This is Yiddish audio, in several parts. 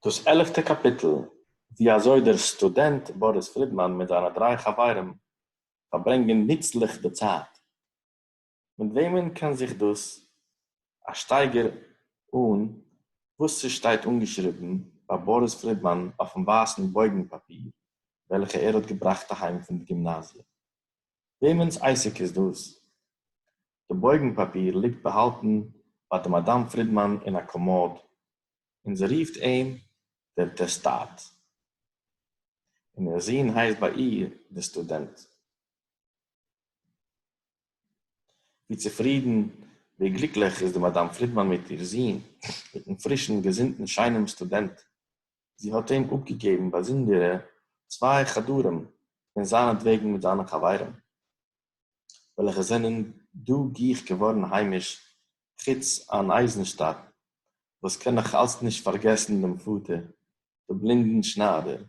דאס עלעפטע קאפיטל, ווי אזוי דער סטודענט באריס פרידמאן מיט זיינע דריי חברים פארברענגען נוצליך די צייט. מיט וועמען קען זיך דאס א שטייגער אן וואס ס'שטייט אנגעשריבן ביי באריס פרידמאן אויפן ווייסן בויגן פאפיר וועלכע ער האט געבראכט אהיים פון די גימנאזיע. וועמענס עסק איז דאס? די בויגן פאפיר ליגט באהאלטן ביי די מאדאם פרידמאן אין א קאמאד, און זי רופט אים דער טעסטאט, און איר זון הייסט ביי איר דער סטודענט. ווי צופרידן, ווי גליקליך איז די מאדאם פרידמאן מיט איר זון, מיטן פרישן, געזונטן, שיינעם סטודענט, זי האָט אים אָפּגעגעבן באַזונדערע צוויי חדרים פֿון זײַנעטוועגן מיט זײַנע חבֿרים, וועלכע זענען דאָ גיך געוואָרן היימיש, חוץ אין אײַזנשטאַט, וואָס קאָן נאָך אַלץ נישט פֿאַרגעסן דעם פֿאָטער, דעם בלינדן שנײַדער,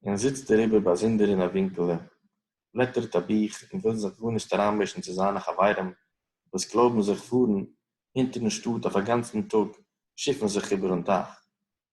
און זיצט דעריבער באַזונדער אין אַ ווינקעלע, בלעטערט אַ בוך און וויל זיך גאָרנישט אַרײַנמישן צו זײַנע חבֿרים, וואָס קלויבן זיך פֿאָרן הינטערן שטאָט אויף אַ גאַנצן טאָג שיפֿן זיך איבערן טײַך.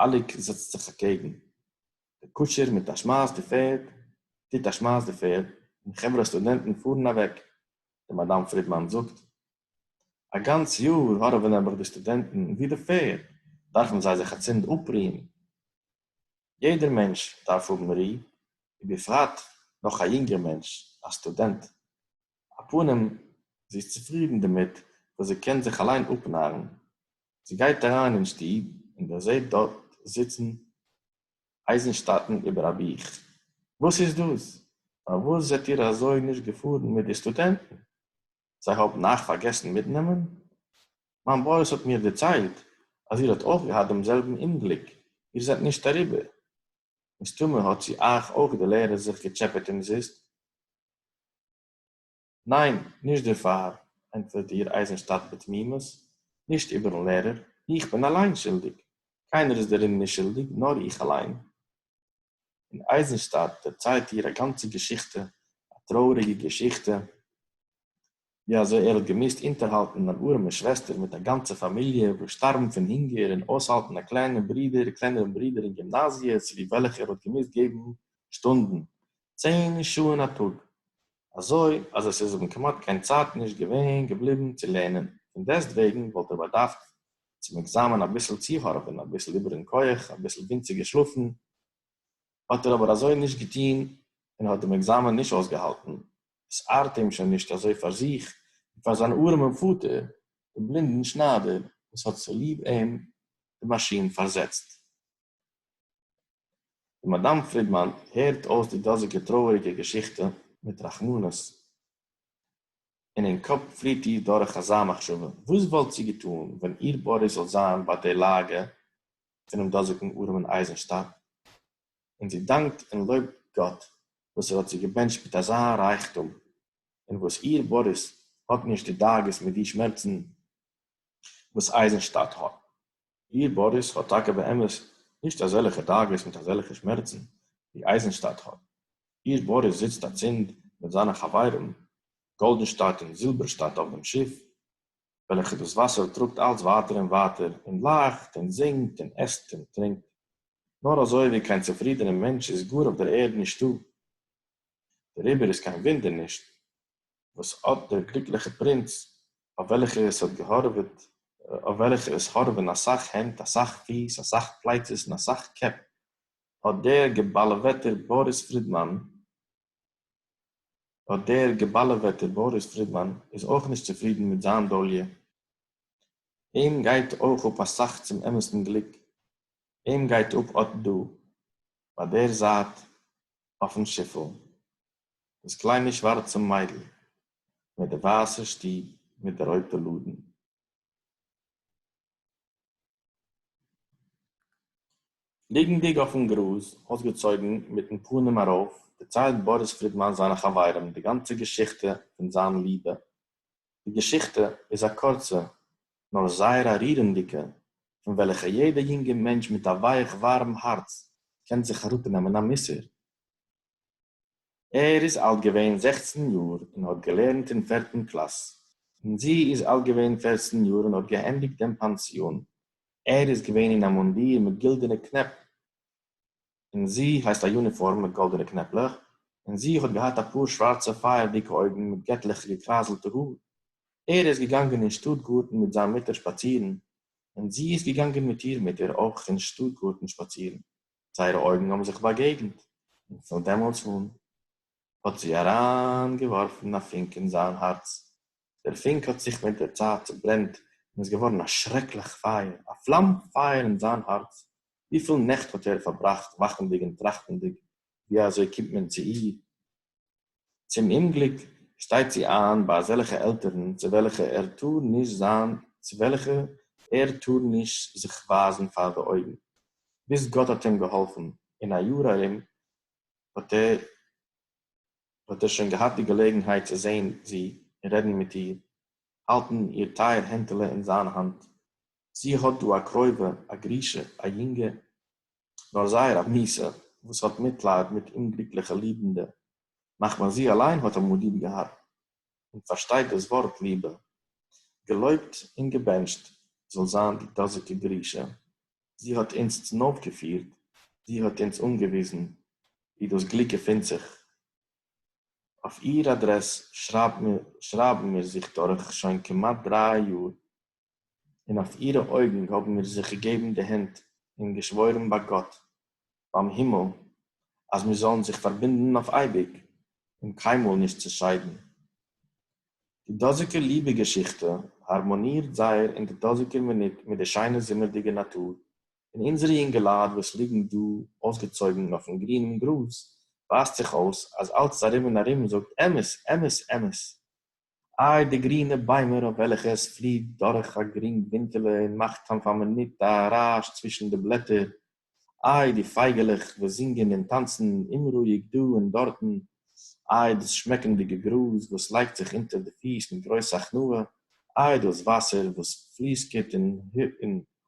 אליק זעצט זיך אקעגן די קושער מיט א שמייס די פערד, טוט א שמייס די פערד, און חברה סטודענטן פארן אוועק. די מאדאם פרידמאן זאגט, א גאנץ יאר הארעווען נעבעך די סטודענטן ווי די פערד, דארפן זיי זיך אצינד אפרוען. יעדער מענטש דארף האבן רו, ובפרט נאך א יונגער מענטש, א סטודענט. א פנים, זי איז צופרידן דערמיט וואס זי קען זיך אליין אפנארן, זי גייט אריין אין שטוב און דערזעט דארט זיצן אייזנשטאטן איבער א בוך. וואס איז דאס? פארוואס זעט איר אזוי נישט געפארן מיט די סטודענטן? זיי האבן אייך פארגעסן מיטנעמען? מיין באוס האט מיר דערציילט אז איר האט אויך געהאט דעם זעלבן אומגליק, איר זענט נישט אריבער. מסתמא האט צו אייך אויך די לערער זיך געטשעפעט אומזיסט. ניין, נישט דערפאר, ענטפערט איר אייזנשטאדט בתמימות, נישט איבערן לערער, איך בין אליין שולדיג, קיינער איז דערין נישט שולדיג, נאר איך אליין. און אייזנשטאדט דערציילט איר א גאנצע געשיכטע, א טרויעריגע געשיכטע, ווי אזוי ער האט געמוזט אונטערהאלטן אן ארעמע שוועסטער מיט א גאנצע פאמיליע וואס שטארבן פון הונגער און אויסהאלטן א קליינע ברודער, קלענערן ברודער אין גימנאזיע צוליב וועלכע ער האט געמוזט געבן שטונדן, צען שעה'ן א טאג, אזוי אז עס איז אים כמעט קיין צייט נישט געווען געבליבן צו לערנען, פון דעסטוועגן וואלט ער באדארפט צום עקזאמען אביסל צוהארווען, אביסל איבערן כח, אביסל ווינציג געשלאפן, האט ער אבער אזוי נישט געטון און האט דעם עקזאמען נישט אויסגעהאלטן, עס ארט אים שוין נישט אזוי פאר זיך און פאר זיין ארעמען פאטער, דעם בלינדן שניידער, וואס האט צוליב אים די מאשין פארזעצט. די מאַדאַם פֿרידמאַן הערט אױס די דאָזיקע טרױעריקע געשיכטע מיט רחמנות, און אין קאָפּ פֿליט איר דורך אַזאַ מחשבֿה, װאָס װאָלט זי געטאָן, װען איר באָריס זאָל זײַן בײַ דער לאַגע פֿונעם דאָזיקן אָרעמען אײַזנשטאַט? און זי דאַנקט און לױבט גאָט, װאָס ער האָט זי געבענטשט מיט אַזאַ רײַכטום, און װאָס איר באָריס האָט נישט די דאגות מיט די שמערצן, װאָס אײַזנשטאַט האָט. איר באריס האט טאקע באמת נישט אזעלעכע דאגות מיט אזעלעכע שמערצן ווי אייזענשטאט האט, איר באריס זיצט אצינד מיט זיינע חברים גאלדענשטאט און זילבערשטאט אויף דעם שיף וועלכע דאס וואסער טראגט אלץ ווייטער און ווייטער און לאכט און זינגט און עסט און טרינקט נאר אזוי ווי קיין צופרידענע מענטש איז גאר אויף דער ערד נישטא, דעריבער איז קיין וואונדער נישט וואָס אָט דער גליקלעכער פּרינץ, אויף וועלכער עס האָט געהאָרעוועט, אויף וועלכער עס האָרעווען אַ סך הענט, אַ סך פיס, אַ סך פּלייצעס און אַ סך קעפּ, אָט דער געבאַלעוועטער באָריס פרידמאַן, אָט דער געבאַלעוועטער באָריס פרידמאַן איז אויך נישט צופרידן מיט זיין דאָליע. אים גייט אויך אָפּ אַ סך צום אמתן גליק. אים גייט אָפּ אָט דאָ, ביי דער זייט, אויפן שיפל, דאָס קליינע שוואַרצע מיידל מיט די ווייסע שטוב מיט די רויטע לאָדן. ליגנדיק אויפֿן גראָז, אויסגעצויגן, מיטן פּנים אַרויף, דערציילט באָריס פֿרידמאַן זײַנע חבֿרים די גאַנצע געשיכטע פֿון זײַן ליבע. די געשיכטע איז אַ קורצע, נאָר זייער אַ רירנדיקע, פֿון וועלכער יעדער יונגער מענטש מיט אַ ווייך-וואַרעם האַרץ קען זיך אַראָפּנעמען אַ מוסר. ער איז אלט געווען זעכצן יאר און האט געלערנט אין פערטן קלאס, און זי איז אלט געווען פערצן יאר און האט געענדיגט דעם פאנסיאן. ער איז געווען אין א מונדיר מיט גילדענע קנעפ און זי הייסט א יוניפארם מיט גאלדענע קנעפלעך, און זי האט געהאט א פאר שווארצע פייערדיגע אויגן מיט געטליכע געקרייזלטע האר. ער איז געגאנגען אין שטאט גארטן מיט זיין מוטער שפאצירן, און זי איז געגאנגען מיט איר מוטער אויך אין שטאט גארטן שפאצירן. זייערע אויגן האבן זיך באגעגנט, און פון דעמאלטס אן האט זי אריינגעווארפן א פונק אין זיין הארץ. דער פונק האט זיך מיט דער צייט צעברענט און איז געווארן א שרעקליך פייער, א פלאם פייער אין זיין הארץ. וויפיל נעכט האט ער פארבראכט וואכנדיג און טראכטנדיג, ווי אזוי קומט מען צו איר, צום אומגליק שטייט זי איין ביי אזעלכע עלטערן צו וועלכע ער טאר נישט זיין צו וועלכע ער טאר נישט זיך ווייזן פאר די אויגן, ביז גאט האט אים געהאלפן אין א יאר ארום האט ער האט ער שוין געהאט די געלעגנהייט צו זען זי און רעדן מיט איר, האלטן איר טייער הענטעלע אין זיין האנט, זי האט דא א קרובה א גרושה א יונגע, נאָר זײער אַ מיסער, װאָס האָט מיטלײַד מיט אומגליקלעכע ליבנדע, מחמת זי אַלײן האָט אַמאָל ליב געהאַט און פֿאַרשטײט דאָס װאָרט ליבע. געלױבט און געבענטשט זאָל זײַן די דאָזיקע גרישאַ! זי האָט אונדז צונױפֿגעפֿירט, זי האָט אונדז אָנגעװיזן, װוּ דאָס גליק געפֿינט זיך. אױף איר אַדרעס שרײַבן מיר זיך דורך שױן כּמעט דרײַ יאָר. און אױף אירע אױגן האָבן מיר זיך געגעבן די הענט און געשװאָרן בײַ גאָט בײַם הימל, אַז מיר זאָלן זיך פֿאַרבינדן אױף אײביק און קײנמאָל נישט צעשײדן. די דאָזיקע ליבע-געשיכטע האַרמאָנירט זײער אין דער דאָזיקער מינוט מיט דער שײנער זומערדיקער נאַטור פֿון אונדזערע יונגעלײַט, װאָס ליגן דאָ אױסגעצױגן אױפֿן גרינעם גראָז. װײַזט זיך אױס, אַז אַלץ אַרום און אַרום זאָגט, אמת! אמת! אמת! איי די גרינע ביימער אויף וועלכע עס פליט דורך א גרינג ווינטעלע און מאכט כאן פאר מינוט א רעש צווישן די בלעטער, איי די פייגעלעך וואס זינגען און טאנצן אומרואיג דא און דארטן, איי דאס שמעקנדיגע גראז וואס לייגט זיך אונטער די פיס מיט גרויס הכנעה, איי דאס וואסער וואס פליסקעט און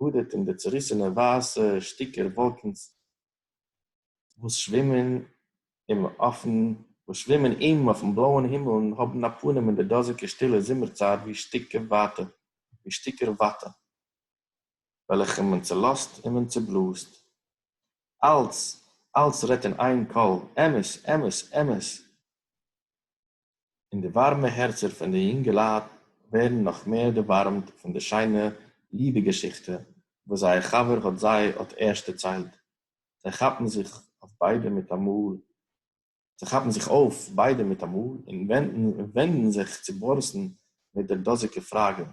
האדערט אין די צוריסענע ווייסע שטיקער וואלקנס. װאָס שװימען אים אױפֿן, װאָס שװימען אים אױפֿן בלאָען הימל און האָבן אַ פּנים אין דער דאָזיקער שטילער זומערצײַט װי שטיקער װאַטע, װי שטיקער װאַטע, װעלכע מען צעלאָזט און מען צעבלאָזט. אַלץ, אַלץ רעדט אין אײן קול, אמת, אמת, אמת! און די ווארעמע הערצער פון די יונגעלייט ווערן נאך מער דערווארעמט פון די שיינע ליבע געשיכטע וואס זייער חבר האט זיי האט ערשט דערציילט, זיי כאפן זיך אויף ביידע מיטאמאל, זיי כאפן זיך אויף ביידע מיטאמאל און ווענדן זיך צו באריסן מיט דער דאזיקער פראגע,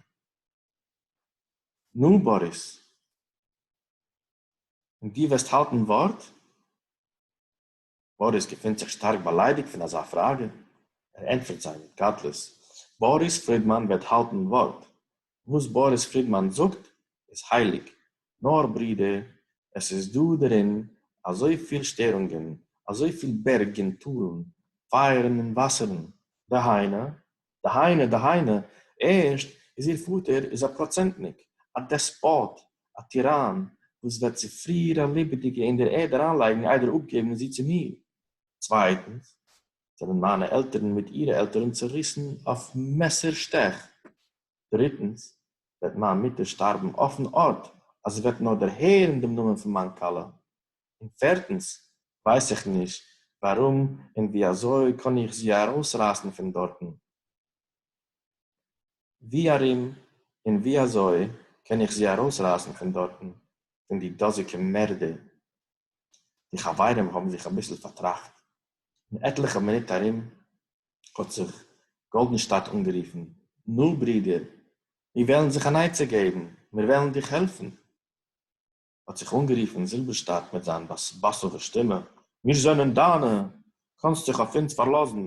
נו, באריס, און דו וועסט האלטן ווארט? באריס געפינט זיך שטארק באליידיגט פון אזא פראגע, ער ענטפערט זיי מיט קטלוס, באריס פרידמאן וועט האלטן ווארט, וואס באריס פרידמאן זאגט איז הייליג, נאר ברודער, עס איז דא דערין אזוי פיל שטערונגען, אזוי פיל בערג און טאלן, פייערן און וואסערן, דהיינו, דהיינו, דהיינו, ערשט איז איר פאטער איז א פראצענטניק, א דעספאט, א טיראן, וואס וועט צו פרי איר א לעבעדיגע אין דער ערד אריינלייגן איידער אפגעבן זי צו מיר. צווייטנס, זענען מיינע עלטערן מיט אירע עלטערן צעריסן אויף מעסער שטעך. דריטנס, וועט מיין מוטער שטארבן אויפן ארט, אז זי וועט נאר דערהערן דעם נאמען פון מיין כלה. און פערטנס, ווייס איך נישט ווארום און ווי אזוי קען איך זי ארויסרייסן פון דארטן. ווי ארום און ווי אזוי קען איך זי ארויסרייסן פון דארטן, פון די דאזיקע מערדער? די חברים האבן זיך אביסל פארטראכט, און עטליכע מינוט ארום האט זיך גאלדענשטאדט אנגערופן, נו, ברודער, מיר וועלן זיך אן עצה געבן, מיר וועלן דיך העלפן. האָט זיך אָנגערופֿן זילבערשטאַט מיט זײַן באַסאָװער שטימע, מיר זענען דײַנע! קאָנסט זיך אױף אונדז פֿאַרלאָזן,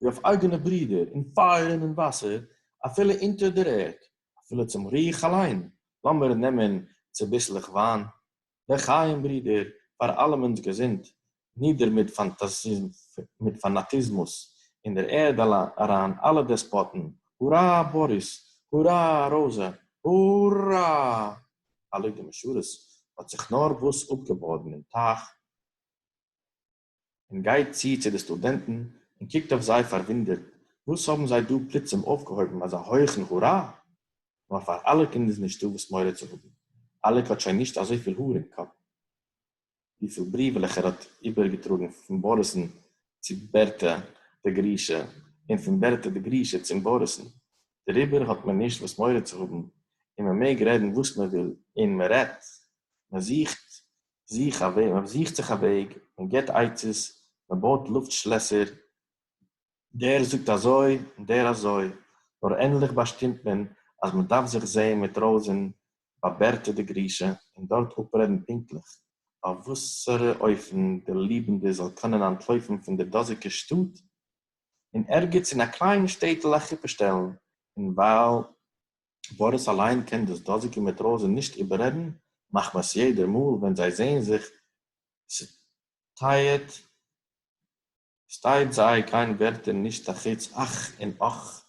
װי אױף אײגענע ברידער, אין פֿײַער און אין װאַסער, אַפֿילו אונטער דער ערד, אַפֿילו צום רוח אַלײן! לאָמיר נעמען צוביסלעך װײַן, לחײם, ברידער, פֿאַר אַלעמענס געזונט, נידער מיט פאנאטיזמוס אין דער ערד אריין אלע דעספאטן, הורא באריס! הורא ראזע! הורא! הלואי די משרת האט זיך נארוואס אפגעבאדן אין טייך און גייט צו צו די סטודענטן און קוקט אויף זיי פארוואונדערט, וואס האבן זיי דא פלוצים אויפגעהויבן אזא הויכן הורא? נאר פאר אלעקן איז נישטא וואס מורא צו האבן, אלעק האט שוין נישט אזויפיל האר אין קאפ. וויפיל בריוולעך ער האט איבערגעטראגן פון באריס'ן צו בערטע די גרושה און פון בערטע די גרושה צום באריס'ן, דעריבער האט מען נישט וואס מורא צו האבן און מען מעג רעדן וואס מען וויל און מען רעדט, מען זוכט זיך א וועג, מען זוכט זיך א וועג, מען געבט עצות, מען בויט לופט שלעסער, דער זאגט אזוי און דער אזוי, נאר ענדליך באשטימט מען אז מען דארף זיך זעהן מיט רויזין באבערטע די גרושה און דארט אפרעדן פונקטליך אויף וואסערע אופן די ליבענדע זאל קענען אנטלויפן פון דער דאזיגע שטאט און ערגעץ אין א קליין שטעטל א חופה שטעלן, און ווייל באריס אליין קען דאס דאזיגע מיט רויזין נישט איבעררעדן מחמת יעדער מאל ווען זיי זעהן זיך צוטייעט שטייט זיי קיין ווערטער נישט אחוץ אך און אך.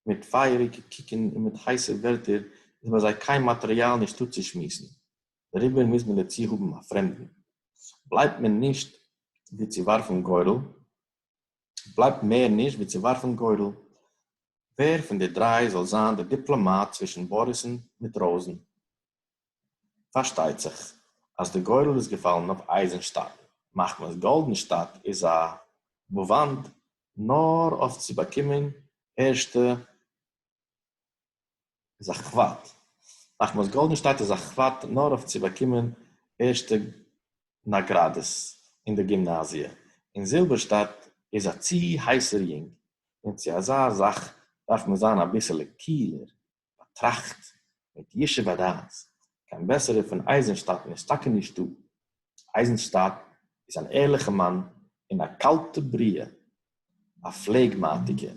מיט פייעריגע קוקן און מיט הייסע ווערטער איז ביי זיי קיין מאטריאל נישט דא צו שמועסן, דעריבער מוז מען דערצו האבן א פרעמדן. בלייבט מער נישט ווי צו ווארפן גורל. בלייבט מער נישט ווי צו ווארפן גורל ווער פון די דריי זאל זיין דער דיפלאמאט צווישן באריס'ן מיט ראוזן. פארשטייט זיך אז די גורל איז געפאלן אויף אייזענשטאט, מחמת גאלדענשטאט איז א וואנט נאר אויף צו באקומען ערשטע איז א כבוד, מחמת גאלדענשטאט איז א כבוד נאר אויף צו באקומען ערשטע נאגראדעס אין די גימנאזיע, און זילבערשטאט איז א צו הייסער יונג, און צו אזא זאך דארף מען זיין אביסעלע קיהלער, באטראכט מיט ישוב הדעת, קיין בעסערער פון אייזענשטאטן איז טאקע נישטא, אייזענשטאט איז אן ערליכע מאן און א קאלטע בריה, א פלעגמאטיקער.